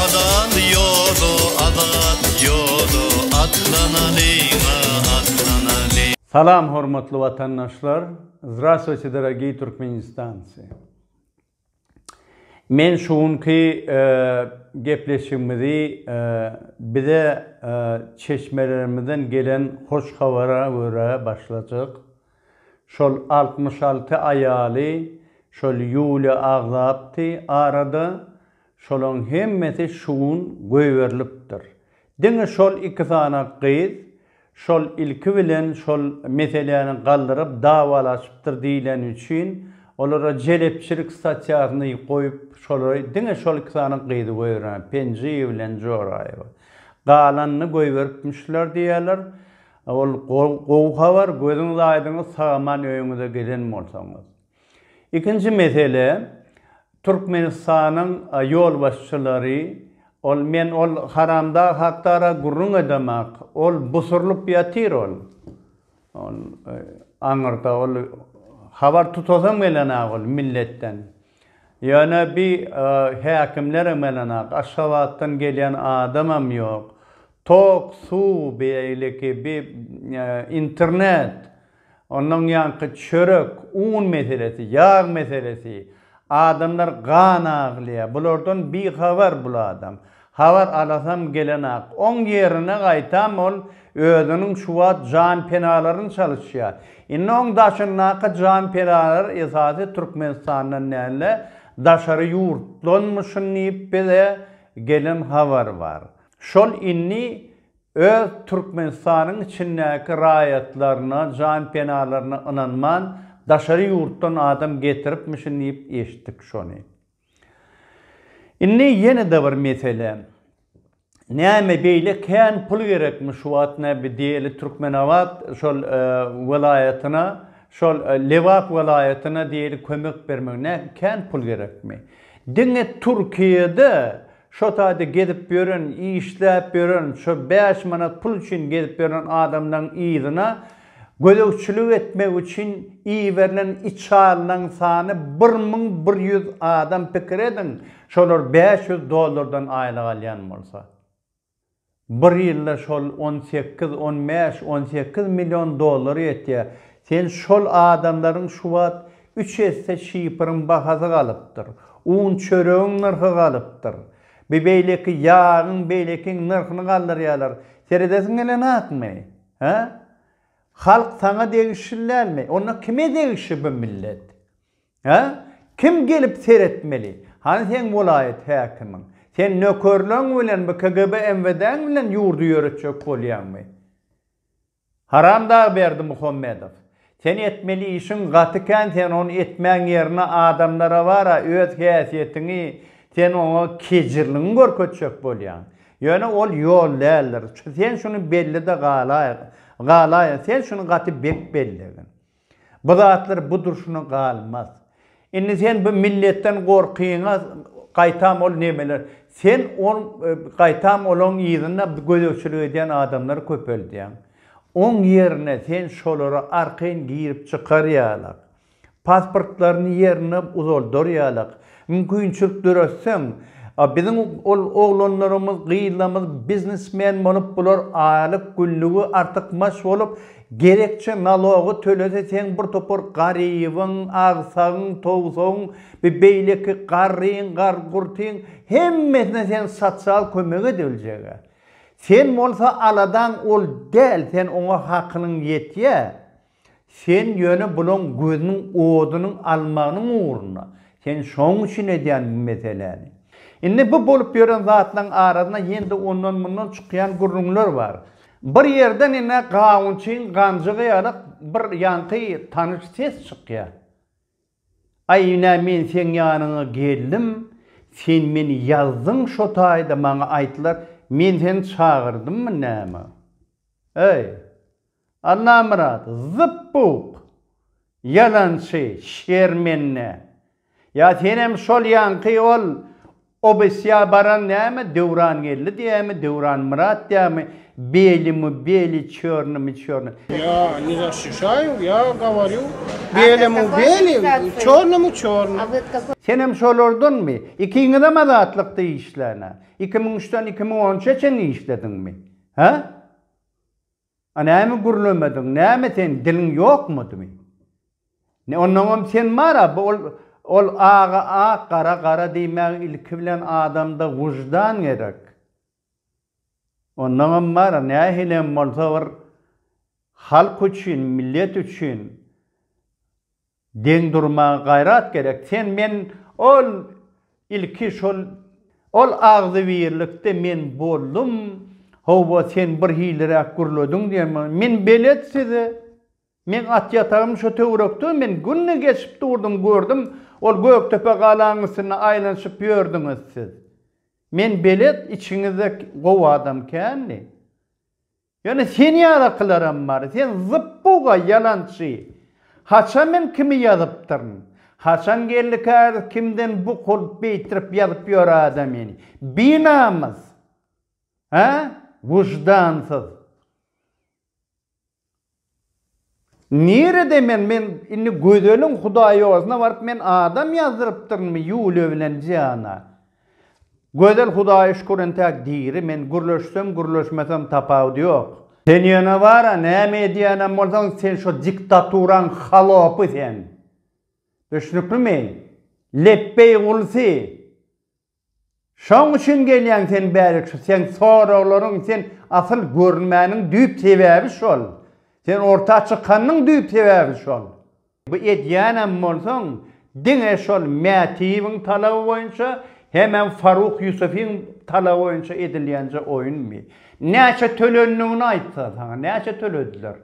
Azat ýoda, azat ýoda, atlanalyň-a, atlanalyň. Salam hormatly watandaşlar! Zdrastwuyte dorogiý Türkmenistancy! Men şu günki gepleşigimizi bize çeşmelerimizden gelen hoş habara görä başlajak. Şol altmyş alty aýaly şol Ýuliýa agzapdy arada, şolaň hemmesi şu gün goýberilipdir. Diňe şol iki sany gyz şol ilki bilen şol meseläni galdyryp dawalaşypdyr diýleni üçin olara jelepçilik statýasyny goýup şolary diňe şol iki sany gyzy goýberýärler Penjiýew bilen Joraýewa. Galanyny goýberipmişler diýýärler. Ol gowy habar, gözüňiz aýdyňyz sagaman öýüňize giden bolsaňyz. Ikinji mesele, Türkmenistanyň ýolbaşçylary, ol men ol haramdag hakdara gürrüň edemak, ol busurylyp ýatyr ol, ol aňyrda ol habar tutasam gelenäk ol milletden. Ýöne bi häkimlerem gelenäk, Aşgabatdan gelýän adamam ýok. Tok, suw, beýleki bi internet, ondan ýanky çörek, un meselesi, ýag meselesi, adamlar gan aglaýar. Bulardan bihabar bul adam. Habar alasam gelenak. Oň ýerine gaýtam ol özüniň şu wagt janpenalaryny çalyşýar. Indi oň daşyndaky janpenalar esasy Türkmenistandan däl-de, daşary ýurtdanmyşyn diýip bize gelen habar bar. Şol indi öz Türkmenistanyň içindäki raýatlaryna, janpenalaryna ynanman, daşary ýurtdan adam getiripmişin diýip eşitdik şony. Indi ýene-de bir mesele. Näme beýle kän pul gerekmi şu wagt näbi diýeli Türkmenabat şol welaýatyna, şol Lebap welaýatyna diýeli kömek bermek näki kän pul gerekmi? Diňe Türkiýede Şo taýda gezip ýören, işläp ýören, şo bäş manat pul üçin gezip ýören adamlaň yzyna gözegçilik etmek üçin iberilen içalylaň sany bir müň bir ýüz adam pikir ediň, şolar bäş ýüz dollardan aýlyk alýan bolsa. Bir ýylda şol on sekiz, on bäş, on sekiz million dollar ýetýär. Sen şol adamlaryň şu wagt üç esse şiferiň bahasy galypdyr. Un çöregiň nyrhy galypdyr. Bi beýleki ýagyň beýlekiň nyrhyny galdyrýarlar. Seredesiň gelen zatmy? Hä? Halk saňa degişli dälmi? Onda kime degişli bu millet? Hä? Kim gelip seretmeli? Hany seň welaýat häkimiň? Sen nökerleň bilen bu KGB MWD-ň bilen ýurdy ýöretjek bolýaňmy? Haramdag Berdimuhamedow! Sen etmeli işiň gaty kän sen ony etmäň ýerine adamlara bara öz häsiýetiňi sen oňa kejirligiňi görkezjek bolýaň. Ýöne ol ýol däldir. Sen şuny bellede galaýyň. Sen şuny gaty bet bellegin. Bu zatlar bu durşuna galmaz. Indi sen bu milletden gorkyňa gaýtam ol nemeler. Sen ol gaýtam olaň yzynda gözegçilik edýän adamlary köpeldýäň. Oň ýerine sen şolara arkaýyn girip çykar ýalak. Pasportlaryny ýerine uzaldar ýalak. Mümkinçilik döretseň, biziň ol oglanlarymyz, gyzlarymyz biznesmen bolup, bular aýlyk, günligi artykmaç bolup, gerekçe nalogy tölese, seň bir topar garybyň, agsagyň, towsagyň, bi beýleki garryň, gar-gurtyň, hemmesine sen sosial kömek edebiljeg-ä. Sen bolsa aladaň ol däl, sen oňa hakynyň ýetýä. Sen ýöne bulaň gözüniň odunyň almagynyň ugruna, sen şoň üçin edýän bu meseläni. Indi bu bolup ýören zatlaň arasynda ýene-de ondan mundan çykýan gürrüňler bar. Bir ýerden ine gawunçyň ganjygy ýaly bir ýaňky tanyş ses çykýar. Aý ine men seň ýanyňa geldim, sen meni ýazdyň şo taýda maňa aýtdylar, men seni çagyrdymmy näme? Eý. Allamyrat, zyp-buk! Ýalançy, şermende! Ýa senem şol ýaňky ol obasýa baran näme Döwrangeldi diýýämi, Döwranmyrat diýýämi, beli-mu-beli, çörni-mi-çörni. Ýa, nizasşişaýew, ýa gawarýu, beli-mu-beli, çörni-mi-çörni. Senem şolardanmy? Ikiňizem Azatlykda işläň-ä. Iki müň üçden iki müň on üçe çenli işlediňmi? Hä? A näme gürlemediň, näme sen diliň ýokmudymy? Ne onnoňam sen bar-a, bu ol, ol aga ak, gara gara diýmäge ilki bilen adamda wyždan gerek. Onnoňam bar-a, nähilem bolsa bir halk üçin, millet üçin Deň durmaga gaýrat gerek sen men ol ilki şol ol agzybirlikde men boldum howwa sen bir hiliräk gürlediň diýen men belet sizi meň at ýatagym şo töwrekde men günde geçip durdum gördüm ol gökdepe galaň üstünde aýlanyşyp ýördüňiz siz men belet içiňizde gowy adam kändi. Ýöne sen ýalakylaram bar. Sen zyp-buga ýalançy. Haçan men kimi ýazypdyryn? Haçan geldi käbir kimden bu kul beýtirip ýazyp ýör adamyny? Binamys! Hä? Wyždansyz! Nirede men men indi gözeliň hudaýozyna baryp men adam ýazdyrypdyrynmy ýule bilen jana. Gözel hudaýa şükür entäk diri men gürleşsem gürleşmesem tapawudy ýok. Sen ýöne bara näme edýänem bolsaň sen şo diktaturaň halopy sen. Düşnüklimi? Lepbeý gulsy. Şoň üçin gelýäň sen bärik şu seň soraglaryň sen asyl görünmäniň düýp sebäbi şol. Sen orta çykanyň düýp sebäbi şol. Bu edýänem bolsaň diňe şol Mätiýewiň talaby boýunça hemem Faruk Ýusufiň talaby boýunça edilýänje oýunmy? Näçe tölendigini aýtsa saňa näçe tölediler?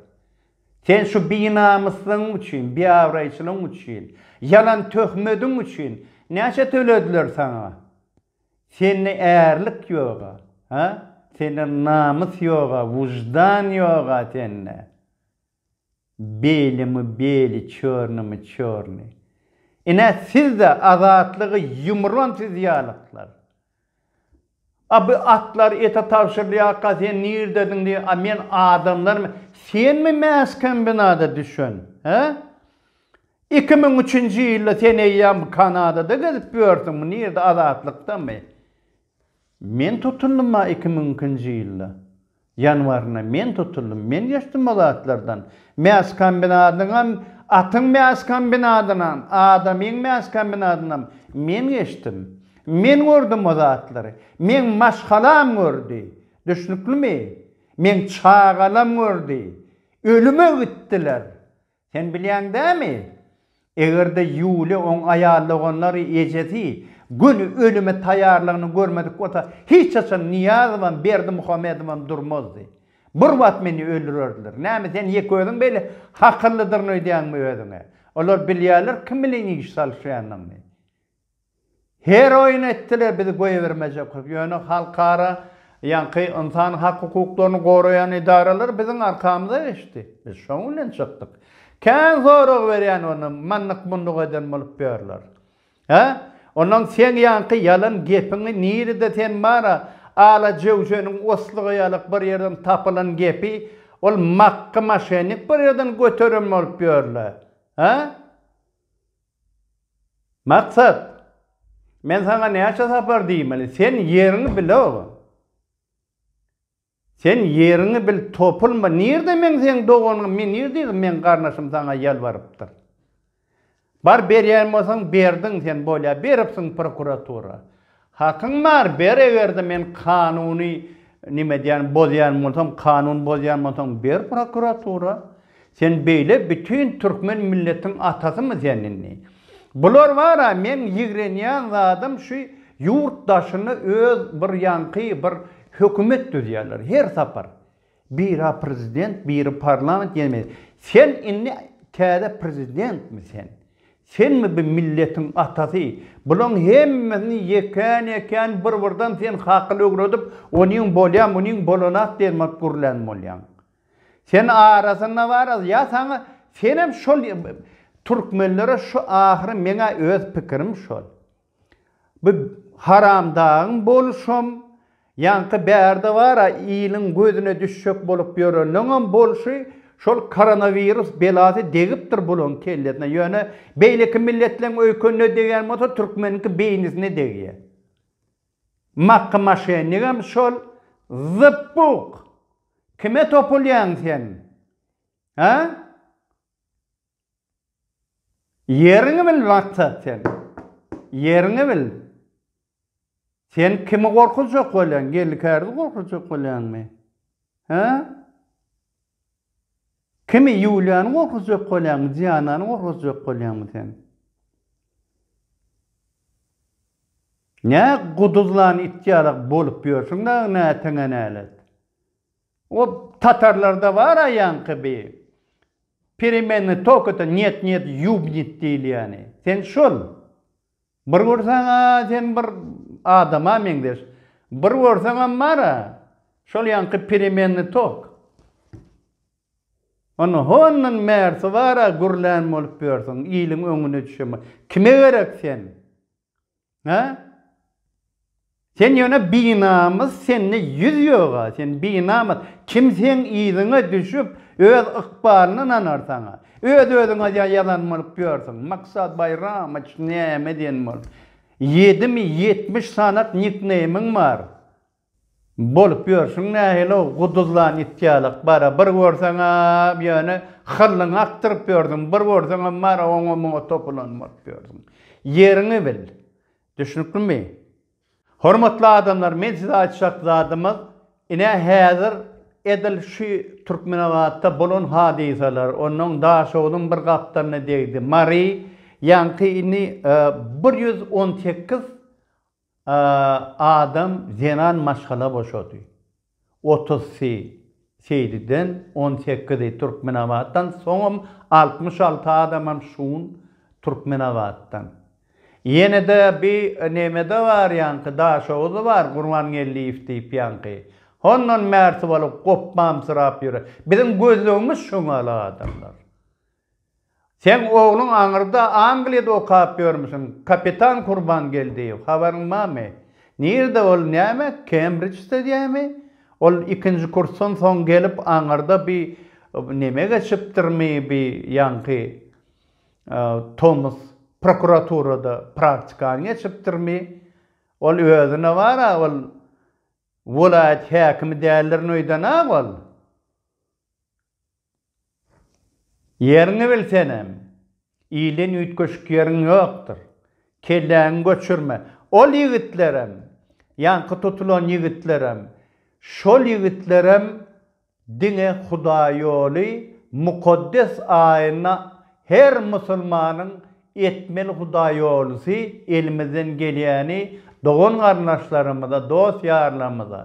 Sen şu binamyslygyň üçin, biabraýçylygyň üçin, ýalan töhmediň üçin näçe tölediler saňa? Sende ärlik ýog-a, ha? Sende namys ýog-a, wyždan ýog-a sende. Beli-mi beli, çörni-mi çörni. Ine, siz-de azatlygy ýumran siz ýalyklar. A bu atlar ete tabşyrylýarka sen nirdediň diý, a men adamlarmy? Senmi mäskombinata düşen, hä? Iki müň üçünji ýylda sen eýýäm bu Kanadada gezip ýörsüň, bu nirde Azatlykdamy? Men tutundym-a iki müň ikinji ýylda. Ýanwarynda men tutuldym. Men geçdim o zatlardan. Mäskombinadynam, atyň mäskombinadynam, adamyň mäskombinadynam men geçdim. Men gördüm o zatlary. Meň maşgalam gördi. Düşnüklimi? Meň çagalam gördi. Ölüme gitdiler. Sen bilýäň dämi? Eger-de Ýuliýa oň aýal doganlary, ejesi göni ölüme taýýarlygyny görmedik bolsa, hiç haçan Nyýazowam, Berdimuhamedowam durmazdy. Bir wagt meni öldürerdiler. Näme, sen ýeke özüň beýle hakyllydyryn öýdýäňmi özüňe? Olar bilýärler kim bilen iş salyşýanyny. Her oýun etdiler biz goýbermejek ýöne halkara ýaňky ynsan hak hukuklaryny goraýan edaralar biziň arkamyza geçdi biz şoň bilen çykdyk kän sorag berýän ony mandyk munduk eden bolup ýörler hä ondan seň ýaňky ýalan gepiňi nirede sen bara ala jöwjeniň oslygy ýalyk bir ýerden tapylan gepi ol makgy maşennik bir ýerden göteren bolup ýörler hä. Maksat, men saňa näçe sapar diýmeli, sen ýeriňi bil oba. Sen ýeriňi bil topulma, nirde meň seň doganyňym, men nirdeýdim meň garnaşym saňa ýalbarypdyr. Bar berýän bolsaň berdiň sen bolýa beripsiň prokuratura. Hakyň bar, ber egerde men kanuny nime edýän bozýan bolsam, kanun bozýan bolsaň ber prokuratura. Sen beýle bütin türkmen milletiň atasymy sen indi. Bular bara meň ýigrenýän zadym şu ýurt daşyny öz bir ýaňky bir hökümet düzýärler her sapar. Bira prezident biri parlament ýenemi sen indi täze prezidentmi sen senmi bu milletiň atasy bulaň hemmesini ýekän ýekän bir birden sen hakyl öwredip onyň bolýa munyň bolanak diýen gürlän bolýaň sen arasynda baras ýa saňa senem şol türkmenlere şu ahyry meňä öz pikirim şol. Bu haramdagyň boluşam, ýaňky bärde bar-a, iliň gözüne düşjek bolup ýörenleňem bolşy, şol koronawirus belasy degipdir bulaň kellesine. Ýöne beýleki milletleň öýkenine degýän bolsa, türkmeniňki beýnisine degýär. Makgy maşennikam şol. Zypbuk! Kime topulýaň sen? Hä? Ýeriňi bil Rakta sen Ýeriňi bil Sen kimi gorkuzjak bolýaň geldi kärdi gorkuzjak bolýaňmy Hä Kimi Ýuliýany gorkuzjak bolýaňmy Dianany gorkuzjak bolýaňmy sen Nä guduzlan it ýalak bolup ýörsüň dagy näteňe nälet. O tatarlarda bar aýanky bi Peremenni tok eten nýet nýet ýubnit diýilýäni. Sen şol. Bir görseň-ä sen bir adama meňzeş. Bir görseňem bar-a şol ýaňky peremenni tok. Onda hondan bärsi bar-a gürlän bolup ýörsüň, iliň öňüne düşen bolup. Kime gerek sen? Hä? Sen ýöne binamys, sende ýüz ýog-a, sen binamys. Kim seň yzyňa düşüp, öz ykbalyny nanar saňa? Öz-özüňe ýa ýazan bolup ýörsüň. Maksat Baýramowyç näme diýen bolup? Ýedimi ýetmiş sanat nikneýmiň bar. Bolup ýörşüň nähili-ow, guduzlan it ýalak, bara, bir görseň-ä, ýöne hyllyňy akdyryp ýörsüň, bir görseňem, bara, oňa-muňa topulanyp baryp ýörsiň. Ýeriňi bil. Düşnüklimi? Hormatly adamlar, men size aýtjak zadymyz, ine, häzir edil şu Türkmenabatda bolan hadysalar, onnoň Daşoguzyň bir gapdalyna degdi, Mary, ýaňky indi bir ýüz on sekiz Adam zenan maşgala boşady. Otuz sy Seýdiden, on sekizi Türkmenabatdan, soňam altmyş alty adamam şu gün Türkmenabatdan. Ýene-de bi neme-de bar ýaňky, Daşoguz bar, Gurbangeldiýew diýip ýaňky. Hondan bärsi bolup gopbamsyrap ýöre. Biziň gözlegimiz şoňala adamlar. Seň ogluň aňyrda Angliýada okap ýörmüsiň, kapitan Kurbangeldiýew, habaryň barmy? Nirde ol, näme, Kembriçde dämi? Ol ikinji kursdan soň gelip aňyrda bi neme geçipdirmi, bi ýaňky tomus prokuraturada praktikany geçipdirmi? Ol özüne bar-a, ol welaýat häkimi däldirin öýdän-a ol? Ýeriňi bilsenem, ilden üýtgeşik ýeriň ýokdur. Kelläňi göçürme. Ol ýigitlerem, ýaňky tutulan ýigitlerem, şol ýigitlerem diňe Hudaýýoly mukaddes aýyna her musulmanyň Etmeli hudaýýolusy elimizden gelýäni dogan-garyndaşlarymyza, dost-ýarlarymyza,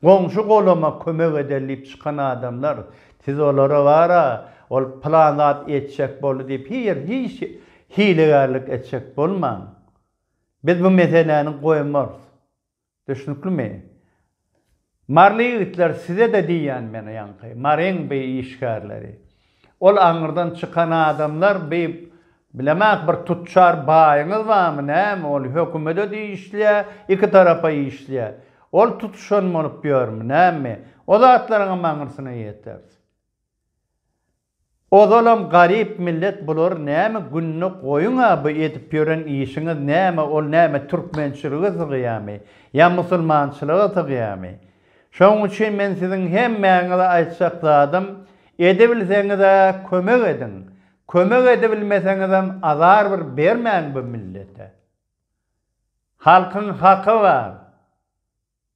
goňşy-golama kömek edeli diýip çykan adamlar, siz olara bar-a, ol pylan zat etjek boldy diýip hiýr hiç hilegärlik etjek bolmaň. Biz bu meseläni goýmarys. Düşnüklimi? Maryly ýigitler size-de diýýän men ýaňky Maryň bi işgärleri. Ol aňyrdan çykan adamlar bi bilemak bir tutjar baýyňyz barmy näme ol hökümede diýişliä iki tarapa işliä. Ol tutuşan bolup ýörmi näme? O zatlaryňam aňyrsyna ýeteris. Ozalam garyp millet bular näme gününe goýuňa bu edip ýören işiňiz näme ol näme türkmençilige sygýamy ýa musulmançylyga sygýamy şoň üçin men siziň hemmäňize aýtjak zadym edebilseňizä kömek ediň kömek edebilmeseňizem azar bir bermäň bu millete halkyň haky bar